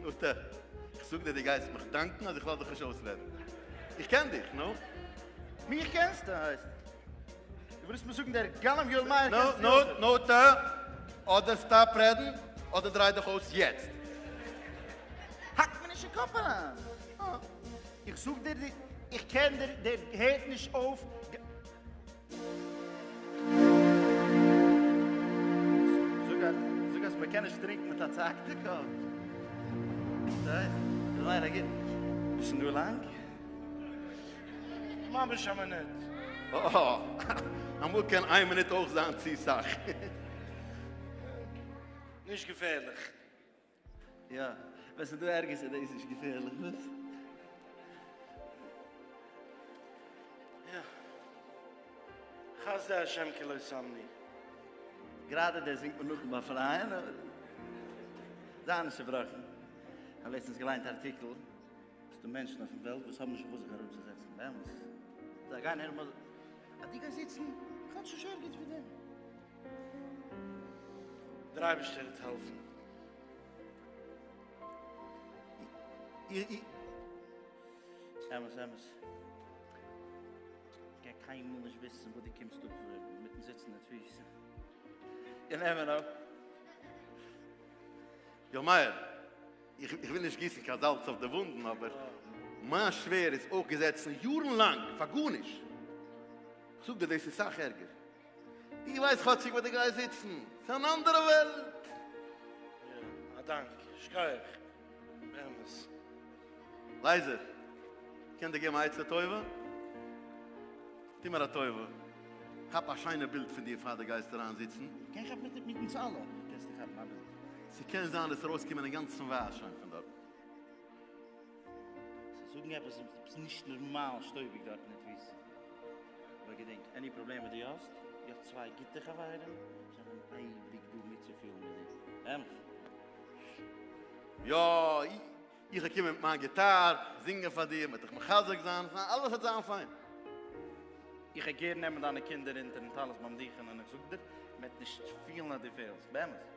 נו ת, איך זאג דיר דו גייסט מיך דאנקן אז איך לאז דיך נישט אויסרעדן. איך קען דיך, נו? מיך קענסטו הייסט? דו ווילסט מיר זאגן דער גנב יואל מאיר קען זיך נו ת, נו ת, אדער סטאפ רעדן אדער דריי דיך אויס יעצט. האק מיר נישט אין קאפ אריין. איך זאג דיר דו איך קען דיר דער הערט נישט אויף. זאג אז מ'קען נישט טרינקן מיט א צעהאקטע קאפ. ביסט דא לאנג? ממש א מינוט. אה, אמאל קען איין מינוט אויך זיין צו סאך. נישט געפערליך. יא, ווען ס'איז דא ערגערס איז דאס נישט געפערליך, וואס? יא. חסדי השם כי לא שמני. גראדע דאס זינגט מען נאכן באפרייען, אבער זיי נישט צובראכן. כ'האב לעצטנס געליינט א ארטיקל, ס'דא מענטשן אויפן וועלט וואס האבן נישט וואו זיך אראפצוזעצן, באמת. זיי גייען הערן מוזיק, אז דו גייסט זיצן, כאטש נישט ערגעץ ווי דעם. דער אייבערשטער וועט העלפן. אמת אמת. איך גיי קיינמאל נישט וויסן וואס דו קומסט אפערען מיטן זיצן אין תפיסה. און נעמען אפ. יאר מאיר, איך וויל נישט גיסן קיין זאלץ אויף די וואונדן, אבער מיין שווער איז אויך געזעצן יארן לאנג פאר גארנישט. איך זאג דיר, דאס איז סאך ערגער. איך ווייס כאטשיג וואו דו גייסט זיצן, ס'איז אן אנדערע וועלט. יא, א דאנק, שכוח, באמת. לייזער, קען דיר געבן א עצה טובה? טו מיר א טובה, כאפ א שיינע בילד פון דיר פאר דו גייסט אריין זיצן. קען כאפן מיט מיט אונז אלע קענסטו כאפן א בילד. ס'קען זיין עס איז ארויסגעקומען אינגאנצן ווייס שוין פון דארטן. זיי זאגן עפעס עפעס נישט נארמאל שטויביג דארט אין די טוויסט אבער געדענק עני פראבלעם וואס דו האסט דו האסט צוויי גוטע חברים זיי זענען אייביג דא מיטצופילן מיט דיר אמת? יא איך וועל קומען מיט מיין גיטאר זינגען פאר דיר מ'וועט דיך מחזק זיין אלעס וועט זיין פיין. איך וועל גערן נעמען דיינע קינדער אונטערן טלית ביים דוכן און איך זאג דיר מ'וועט נישט פילן אז דו פעלסט באמת.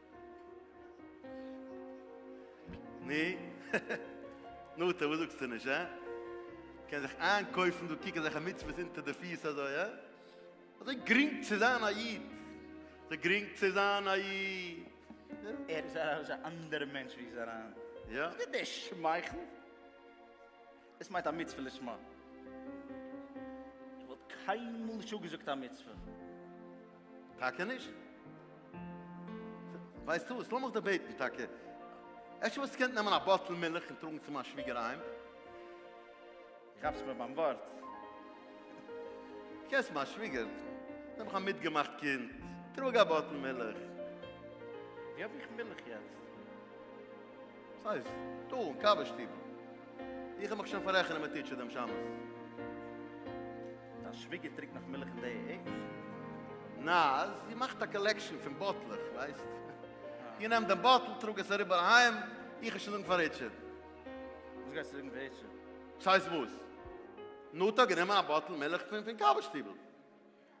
נו? נו טא וואס זאגסטו נישט הא? קען זיך איינקויפן דא קוק אזעלכע מצוות אונטער די פיס אזוי הא? אזוי גרינג צו זיין א איד? אזוי גרינג צו זיין א איד? ער איז א אנדערע מענטש ווי ס'איז אריין. יא. זיי די שמייכל. דאס מיינט א מצוה לשמה. איך וואלט קיינמאל נישט אפגעזאגט א מצוה. טאקע נישט? ווייסטו וואס, לאמיך דיר בעטן טאקע, אפשר וואלסטו געקענט נעמען א באטל מילך און טראגן צו מיין שוויגער אהיים? דו כאפסט מיר ביים ווארט. דו קענסט מיין שוויגער? נעם איך א מיטגעמאכט קינד, טראג א באטל מילך. ווי האב איך מילך יעצט? וואס הייסט? דא אין קאווע שטיבל. איך האב מיך שוין פארעכענען מיט טיטשער דעם שבת. דיין שוויגער טרינקט נאך מילך אין די עידזש? נא, זי מאכט א קאלעקשאן פון באטלעך, ווייסט. איך נעם דעם באטל, טראג עס אריבער אהיים, איך וועל שוין זאגן פאר ריטשארד. וואס גייסטו זאגן פאר ריטשארד? וואס הייסט וואס? נטע האט גענומען א באטל מילך פון קאווע שטיבל.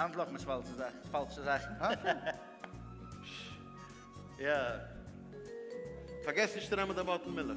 אנטלאפן איז פאלשע זאכן, פאלשע זאכן. פש. יא. פארגעס נישט צו נעמען די באטל מילך.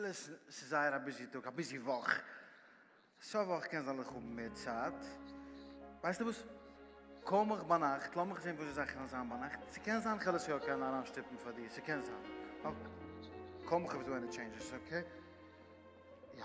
ליסן, ס'איז זייער א ביזי טאג, א ביזי וואך, סוף וואך קען זאל איך האבן מער צייט, ווייסטו וואס, קאל מיך ביינאכט, לאמיך זען וואס די זאכן וועלן זיין ביינאכט, ס'קען זיין כ'וועל עס יא קענען אריינשטופן פאר דיר, ס'קען זיין, אקעי, קאל מיך אויב איז דא עני טשעינדזשעס, אקעי, יא.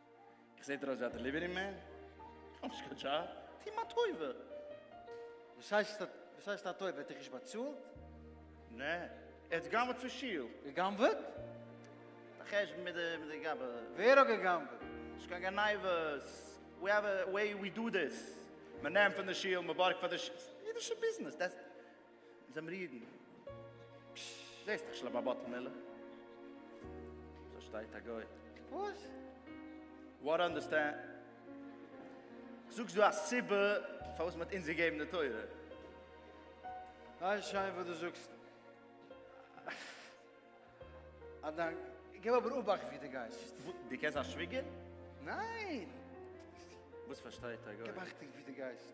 איך זעט אויס ווי א דעליווערי מען? איך האב נישט קיין דזשאב, טו מיר א טובה! וואס הייסט וואס הייסט א טובה? ער האט דיך נישט באצאלט? נע, ער האט גנב'עט פון שול. געגנב'עט? די חשבון מיט די גאבע. ווער האט געגנב'עט? נישט קיין גניבות, ווי עווער וועי ווי דא דיס, מען נעמט פון די שול, מען בארגט פאר די שול, אידישע ביזנעס, דעטס. זעמיר אידן. פששש, זעסט איך שלמה באטעמעלע. דא שטייט א גוי. וואס? וואט אנדערסטענד? זאגסט דא א סיבה פארוואס מען האט אונז געגעבן די תורה? ווייסט שוין וואס דו זאגסט. א דאנק. געב אבער אבאכט ווי דו גייסט. וואס? דו קענסט זיין שוויגער? ניין! וואס פארשטייט א גוי? געב אכטונג ווי דו גייסט.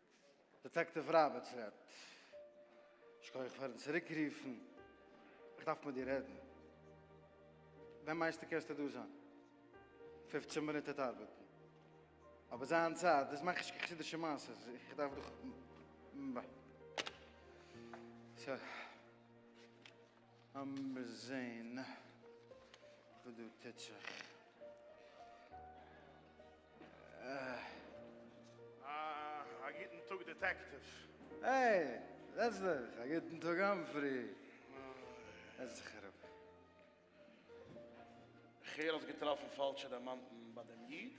דעטעקטיוו ראבערטס רעדט. שכוח פארן צוריקרופן. איך דארף מיט דיר רעדן. ווען מיינסטו קענסטו דא זיין? פופצן מינוט העט ארבעטן. אבער זיין צייט, דאס מאך איך קיין חסידישע מעשה, איך דארף דאך ב. ס. לאמיר זעהן וואס דא טוט זיך. א גוטן טאג דעטעקטיוו. העי! זעץ דיך! א גוטן טאג האמפרי! זעץ דיך אראפ. כ'הער האסט געטראפן פאלשע דיימאנטן ביי דעם איד.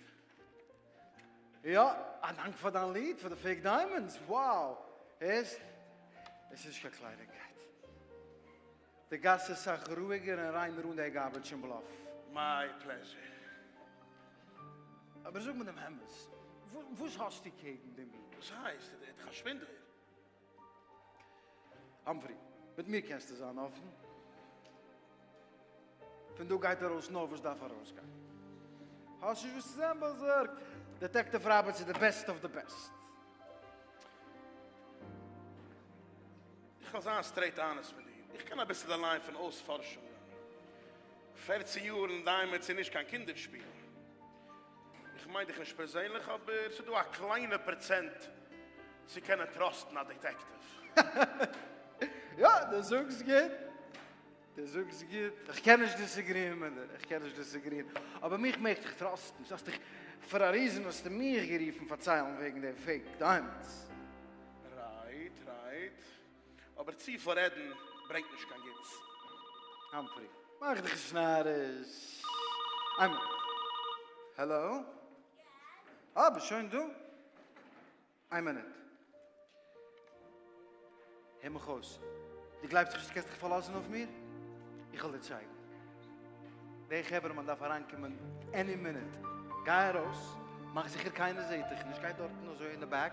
יא, א דאנק פאר דיין ליד, פאר די פעיק דיימאנדס, wow! הערסט? עס איז נישט קיין קלייניגקייט. די גאס איז סאך רואיגער און ריינער אן די גארבעדזש און בלאף. מיי פלעזשער. אבער זאג מיר דעם אמת, וואס האסטו קעגן דעם איד? וואס הייסט? איז ער דאך א שווינדלער? האמפרי, מיט מיר קענסטו זיין אפן. פון דא גייט ארויס נאר וואס דארף ארויסגיין. האסט נישט וואס צו זיין באזארגט. דעטעקטיוו ראבערטס איז די בעסט אוו די בעסט. איך וועל זיין סטרעיט אנעסט מיט דיר. איך קען אביסל די ליין פון אויספארשונגען. פערצן יאר אין דיימענדס איז נישט קיין קינדער שפיל. איך מיין דיך נישט פערזענליך אבער ס'איז דא א קליינע פראצענט צו קענען טראסטן א דעטעקטיוו. יא, דו זאגסט גוט, דו זאגסט גוט, איך קען נישט דיסעגריען מיט דיר, איך קען נישט דיסעגריען, אבער מיך מעגסט דיך טראסטן, דו האסט דיך, פאר א ריזען האסטו מיך גערופן פארציילן וועגן דעם פאקט, דיינס. רייט, רייט. אבער צו פאר רעדן ברענגט נישט קיין גוטס. האמפרי, מאך דיך נישט נאריש. איינמאל. העלא? אה, ביסט שוין דא? איין מינוט. הער מיך אויס. דו גלייבסט נישט אז דו קענסט דיך פארלאזן אויף מיר? איך וועל דיר צייגן. דער חברה'מאן דארף אריינקומען עני מינוט. גיי ארויס, מאך זיכער קיינער זעט דיך נישט. גיי דארטן אזוי אין די בעק.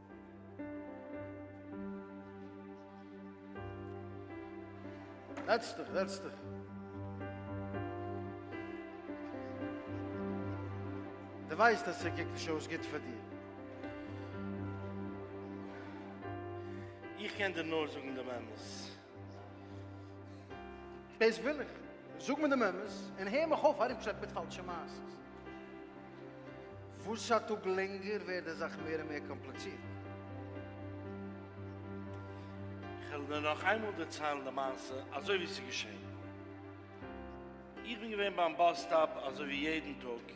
זעץ דיך, זעץ דיך. דו ווייסט אז ס'קוקט נישט אויס גוט פאר דיר. איך קען דיר נאר זאגן דעם אמת. דאס וויל איך, זאג מיר דעם אמת און הער מיך אויף ארומטשלעפן מיט פאלשע מעשות. וואס א טאג לענגער ווערט די זאך מער און מער קאמפליצירט. כ'וועל דיר נאך איינמאל דערציילן די מעשה אזוי ווי ס'איז געשען. איך בין געווען ביים באס סטאפ אזוי ווי יעדן טאג.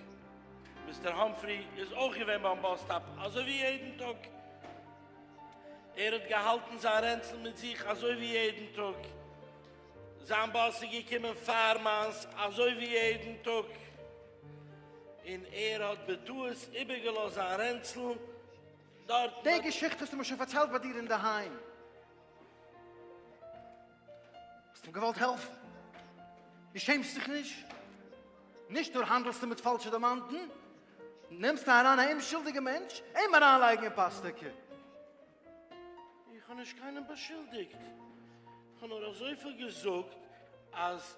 מיסטער האמפרי איז אויך געווען ביים באס סטאפ אזוי ווי יעדן טאג. ער האט געהאלטן זיין רענצל מיט זיך אזוי ווי יעדן טאג. זיין באס איז געקומען פאר מיינס אזוי ווי יעדן טאג, און ער האט בטעות איבערגעלאזט זיין רענצל דארטן. די געשיכטע האסטו מיר שוין פארציילט ביי דיר אינדערהיים. האסט אים געוואלט העלפן, דו שעמסט זיך נישט, נישט נאר האנדלסטו מיט פאלשע דערמאנטן, נעמסטו אריין א אומשולדיגע מענטש אים אריינלייגן אין פאסטעקע. איך האב נישט קיינעם באשולדיגט, איך האב נאר אזויפיל געזאגט אז.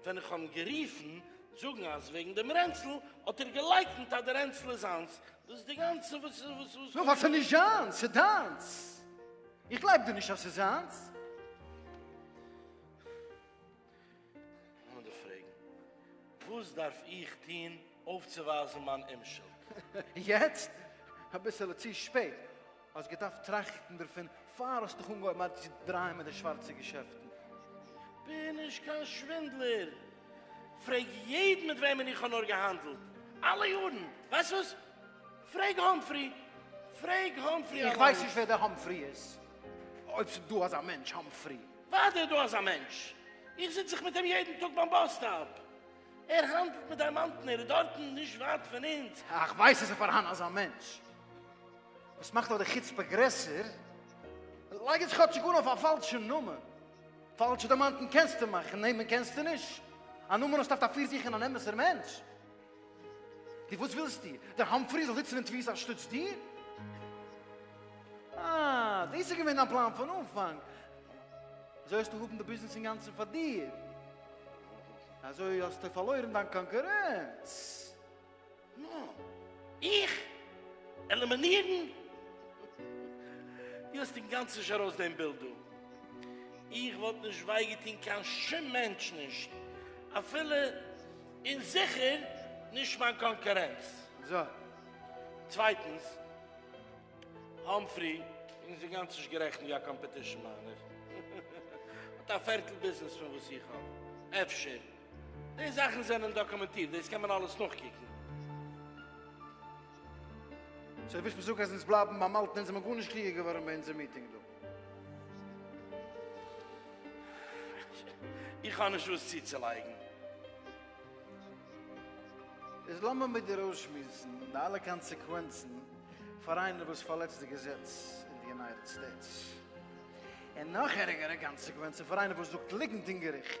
ווען איך האב אים גערופן זאגן אז וועגן דעם רענצל האט ער געלייקנט אז די רענצל איז זיינס, דאס איז די גאנצע וואס וואס וואס. נאר ווייל ס'איז נישט זיינס, ס'איז דיינס. איך גלייב דיר נישט אז ס'איז זיינס. לאמיר פרעגן, וואס דארף איך טון אויפצואווייזן מיין אומשולד? יעצט? אביסעלע צו שפעט. האסט געדארפט טראכטן דערפון פאר האסט דיך אנגעהויבן ארט צו דרייען מיט די שווארצע געשעפטן. כ'בין נישט קיין שווינדלער, פרעג יעדן מיט וועמען איך האב נאר געהאנדלט אלע יארן, ווייסט וואס? פרעג האמפרי, פרעג האמפרי אליינס. איך ווייס נישט ווער דער האמפרי איז, אויב ס'דא אזא מענטש האמפרי. וואדע איז דא אזא מענטש, איך זיץ זיך מיט אים יעדן טאג ביים באס סטאפ, ער האנדלט מיט דיימאנטן, ער איז דארטן נישט ווייט פון אונז. איך ווייס עס איז פארהאן אזא מענטש. וואס מאכט נאך די חוצפה גרעסער, לייג עס כאטשיג אן אויף א פאלשע נאמען, פאלשע דיימאנטן קענסטו מאכן, נעמען קענסטו נישט, א נאמען האסטו אויף די פיר זיכען אן אמת'ער מענטש, די וואס ווילסטו דער האמפרי זאל זיצן אין תפיסה אנשטאטס דיר? אה, דאס איז געווען דיין פלאן פון אנפאנג, אזוי האסטו האבן די ביזנעס אינגאנצן פאר דיר, אזוי האסטו פארלוירן דיין קאנקורענץ. איך? עלימינירן? דו האסט אינגאנצן נישט ארויס דעם בילד דא. איך וואלט נישט וויי געטון קיין שום מענטש נישט, אפילו און זיכער נישט מיין קאנקורענץ. צווייטנס, האמפרי איז אינגאנצן נישט גערעכנט ווי א קאמפעטישן מיינער. האט א פערטל ביזנעס פון וואס איך האב, אפשר. די זאכן זענען דאקומענטירט, דאס קען מען אלעס נאכקוקן. סאו ווילסט מיר זאגן אז אונז בלייבן ביים אלטן אונז זעמיר גארנישט קליגער געווארן ביי אונזער מיטינג דא? איך האב נישט וואס צוצולייגן. איז לאמיר מיט דיר אויסשמועסן די אלע קאנסעקווענצן פאר איינער וואס פארלעצט די געזעץ אין די יונייטעד סטעיטס, און נאך ערגערע קאנסעקווענצן פאר איינער וואס זאגט ליגנט אין געריכט.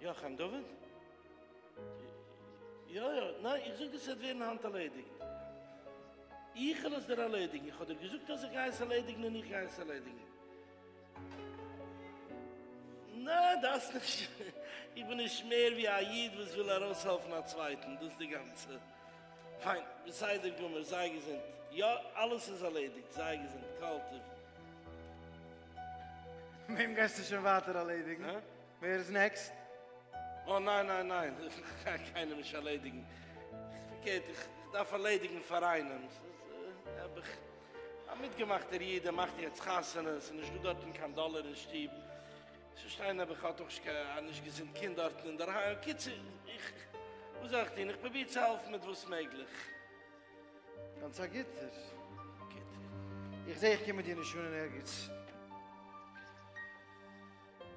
יא חיים דוד? יא יא, ניין איך זאג דאס וועט ווערן היינט ארלעדיגט, איך וועל עס דיר ארלעדיגן, איך האב דיר געזאגט אז איך גיי עס ארלעדיגן און איך גיי עס ארלעדיגן. ניין דארפסט נישט, איך בין נישט מער ווי א איד וואס וויל ארויסהעלפן א צווייטן, דאס די גאנצע. פיין, בסדר גמור, זיי געזונט, יא אלעס איז ארלעדיגט, זיי געזונט, כל טוב. וועם גייסטו שוין ווייטער ארלעדיגן? ווער איז נעקסט? אה ניין ניין ניין, כ'קען קיינעם נישט ארלעדיגן, פארקערט איך דארף ארלעדיגן פאר איינעם, האב איך א מיטגעמאכטער איד ער מאכט יעצט חתונה, ס'איז נישטא דארטן קיין דאלער אין שטוב, נישט פארשטיין האב איך האט אויך א נישט געזונט קינד דארטן אינדערהיים, קיצור איך וואס זאל איך טון, איך פרוביר צו העלפן מיט וואס מעגליך. גאנץ א גוטער. גוט. איך זע איך קום מיט דיר נישט אן אין ערגעץ.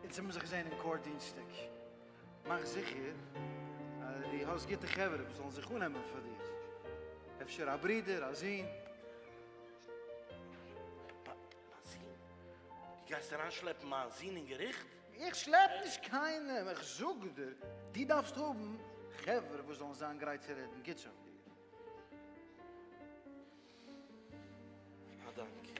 אונז האבן זיך געזען אין קאורט דינסטאג, מאך זיכער אז דו האסט גוטע חברה וואס זאלן זיך אננעמען פאר דיר, אפשר א ברודער, א זון. מיין זון? דו גייסט אריינשלעפן מיין זון אין געריכט? איך שלעפ נישט קיינעם, איך זאג דיר, דו דארפסט האבן חברה וואס זאלן זיין גרייט צו רעדן גוטס אויף דיר. א דאנק.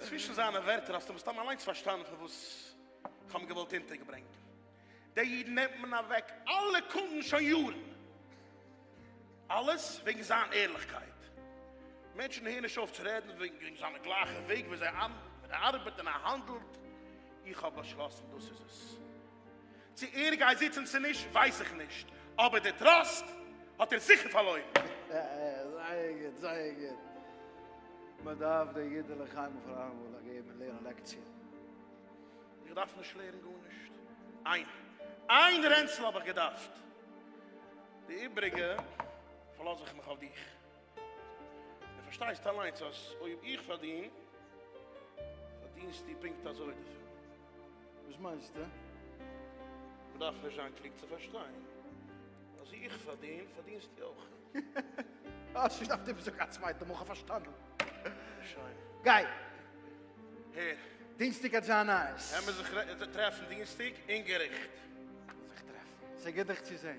צווישן זיינע ווערטער האסטו מסתם אליינס פארשטאנען פון וואס איך האב געוואלט אונטערגעברענגן. די אידן נעמט מען אוועק אלע קונדן שוין יארן. אלעס וועגן זיין ערליכקייט. מענטשן הערן נישט אויף צו רעדן וועגן זיינע גלייכע וועג ווי אזוי ער ארבעט און ער האנדלט. איך האב באשלאסן דאס איז עס. צו ער גייט זיצן צו נישט ווייס איך נישט, אבער די טראסט האט ער זיכער פארלוירן. זייער גוט, זייער גוט. מען דארף די אידעלעך איינמאל פאר אלעמאל געבן און לערנען לעקציע. איך דארף נישט לערנען גארנישט. איין איין רענצל האב איך געדארפט. די איבריגע פארלאז איך מיך אויף דיך. דו פארשטייסט אליינס אז אויב איך פארדין, פארדינסטו פונקט אזוי דערפון. וואס מיינסטו? מען דארף נישט זיין קלוג צו פארשטיין אז איך פארדין, פארדינסטו אויך. האסט נישט דארפט איבערזאגן קיין צווייטע מאל, כ'האב פארשטאנען. שוין. גיי. הער. דינסטאג האט זיין נייעס. העמער זיך טרעפן דינסטאג אין געריכט. זיך טרעפן. ס'איז גוט דיך צו זען.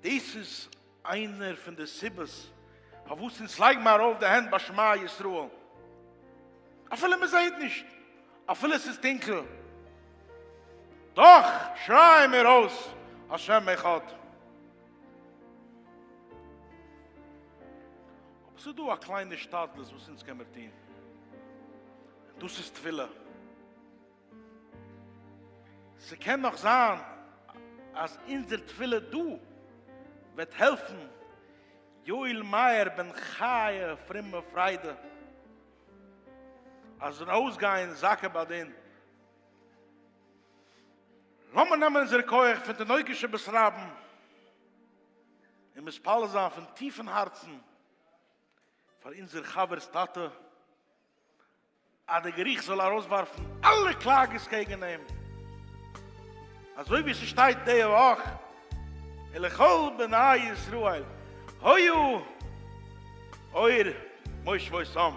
דאס איז איינער פון די סיבות פארוואס אונז לייג מיר ארויף די הענט ביי שמע ישראל אפילו מען זעהט נישט אפילו עס איז טונקל דאך שרייען מיר אויס השם אחד. אבער ס'איז דא א קליינע השתדלות וואס אונז קען מיר טון, און דאס איז תפילה. ס'קען נאך זיין אז אונזער תפילה דא וועט העלפן יואל מאיר בן חיה פרומע פריידע אז זאל ארויסגיין זכה בדין. לאמיר נעמען אונזער כח פון תינוקות שבית רבן און מתפלל זיין פון טיפן הארצן פאר אונזער חבר'ס טאטע, אז די געריכט זאל ארויסווארפן אלע קלאגעס קעגן אים, אזוי ווי ס'שטייט די וואך אין לכל בני ישראל היו אור מושבותם.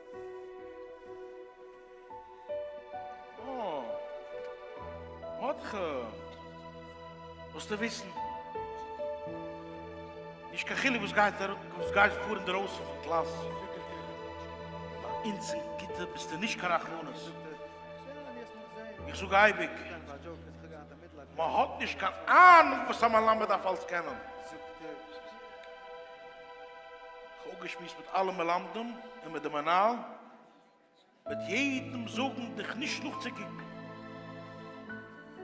מאטכע, זאלסטו וויסן, נישט קיין חילוק וואס גייט ארום, וואס גייט פאר אינדערויסן פון קלאס, ביי אונז אין כיתה ביסטו נישט קיין רחמנות. איך זאג אייביג, מען האט נישט קיין אהנונג וואס א מלמד דארף אלס קענען. איך האב אפגעשמועסט מיט אלע מלמדים און מיט די מנהל, וועט יעדעם זאגן דיך נישט נאכצוקוקן,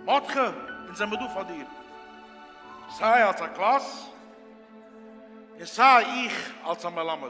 מאטכע, אונז זעמער דא פאר דיר, סיי אלס א קלאס און סיי איך אלס א מלמד.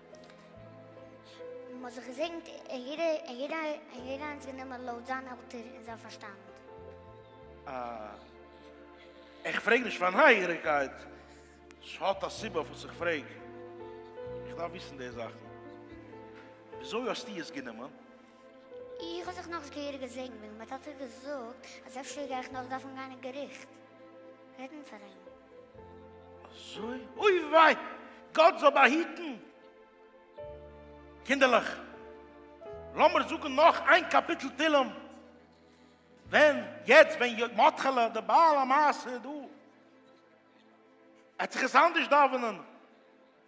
מען האט זיך געזעגנט און יעדער און יעדער און יעדער איינס גענומען לויט זיין עלטער און זיין פארשטאנד. אה. איך פרעג נישט פאר נייעגעריגקייט, ס'האט א סיבה אויף וואס איך פרעג. איך דארף וויסן די זאכן. וויאזוי האסטו עס גענומען? איך האב זיך נאך זיכער געזעגנט מיט מיין טאטע געזאגט אז אפשר גיי איך נאך דארפן גיין אין געריכט רעדן פאר אים. אזוי? אוי וויי! גאט זאל באהיטן! קינדערלעך, לאמיר זאגן נאך איין קאפיטל תהילים, ווען יעצט ווען י. מאטכעלע דער בעל המעשה דא, ער האט זיך עס אנדערש דאווענען.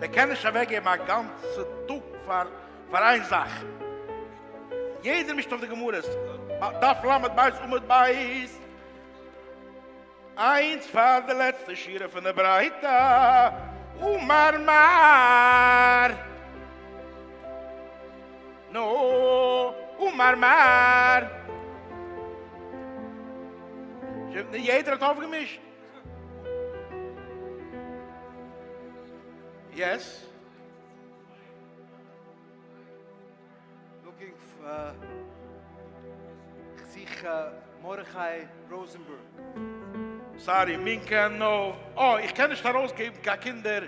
מען קען נישט אוועקגעבן א גאנצע טאג פאר פאר איין זאך, יעדער מישט אויף די גמרות, דף ל' בית עמוד ב' איינס פאר די לעצטע שורה פון די ברייתא, אמר מר. נו, אמר מר. יעדער האט אויפגעמישט? יעס. לוקינג פאר. כ'זוך מרדכי ראזענבערג. סארי, מין קען נאר. אה, איך קען נישט ארויסגעבן קיין קינדער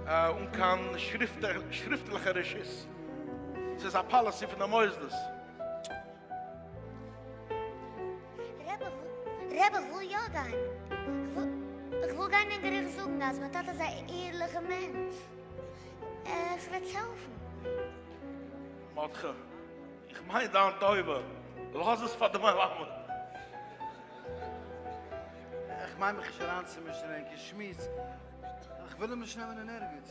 אן קיין שריפטליכע רשות. ס'איז א פאליסי פון די מוסדות. רבי כ'וויל יא גיין, כ'וויל גיין אין געריכט זאגן אז מיין טאטע איז א ערליכע מענטש, כ'וועט העלפן. מאטכע, איך מיין דיין טובה, לאז עס פאר די מלמד. איך מיין מיך נישט אריינצומישן אין ענקער שמועס, כ'וויל אים נישט נעמען אין ערגעץ.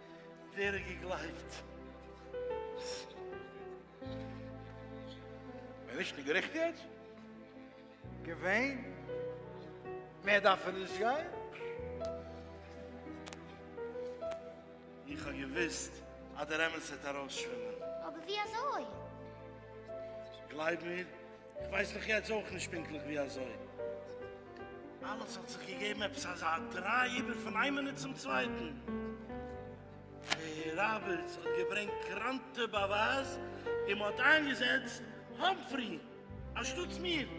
ווער האט געגלייבט? מען איז נישט אין געריכט יעצט? געווען? מער דארף ער נישט גיין? איך האב געוואוסט אז דער אמת וועט ארויסשווימען. אבער ווי אזוי? גלייב מיר. כ'ווייס דאך יעצט אויך נישט פונקטליך ווי אזוי אלעס האט זיך געגעבן עפעס אזא דריי איבער פון איין מינוט צום צווייטן. ראבערטס האט געברענגט קראנטע באווייז און מ'האט איינגעזעצט האמפרי אנשטאטס מיר.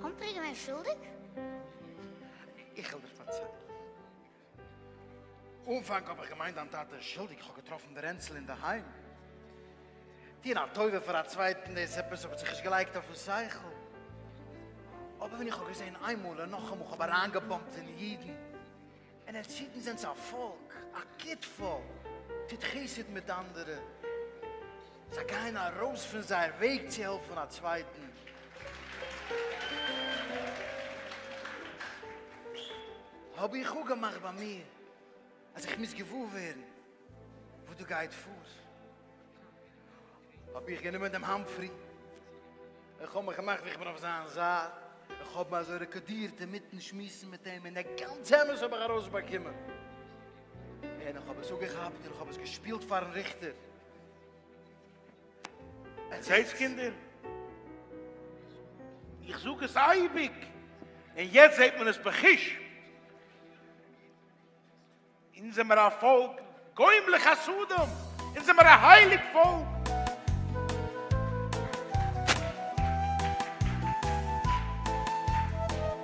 האמפרי איז געווען שולדיג? איך וועל דיר פארציילן. אנפאנג האב איך געמיינט דיין טאטע איז שולדיג איך האב געטראפן די רענצל אינדערהיים. טון א טובה פאר א צווייטן דאס עפעס האט זיך נישט געלייגט אויפן שכל. אבער ווען איך האב געזען איינמאל און נאכאמאל איך האב אריינגעבאמפט אין אידן און עטס אידן זענטס א פאלק א גוט פאלק טוט חסד מיט אנדערע זיי גייען ארויס פון זייער וועג צו העלפן א צווייטן. האב איך אפגעמאכט ביי מיר אז איך מוז געוואר ווערן וואס דא גייט פאר. האב איך גענומען דעם האמפרי, איך האב מיך געמאכט ווי איך בין אויף זיין זייט, איך האב אזוי רעקארדירט אינמיטן שמועסן מיט אים, און דער גאנצע אמת האב איך ארויסבאקומען, און איך האב עס אפגעכאפט און איך האב עס געשפילט פארן ריכטער. זעהטס קינדער, איך זאג עס אייביג, און יעצט זעהט מען עס בחוש, אונז זעמער א פאלק גוים לחסדם, אונז זעמער א הייליג פאלק.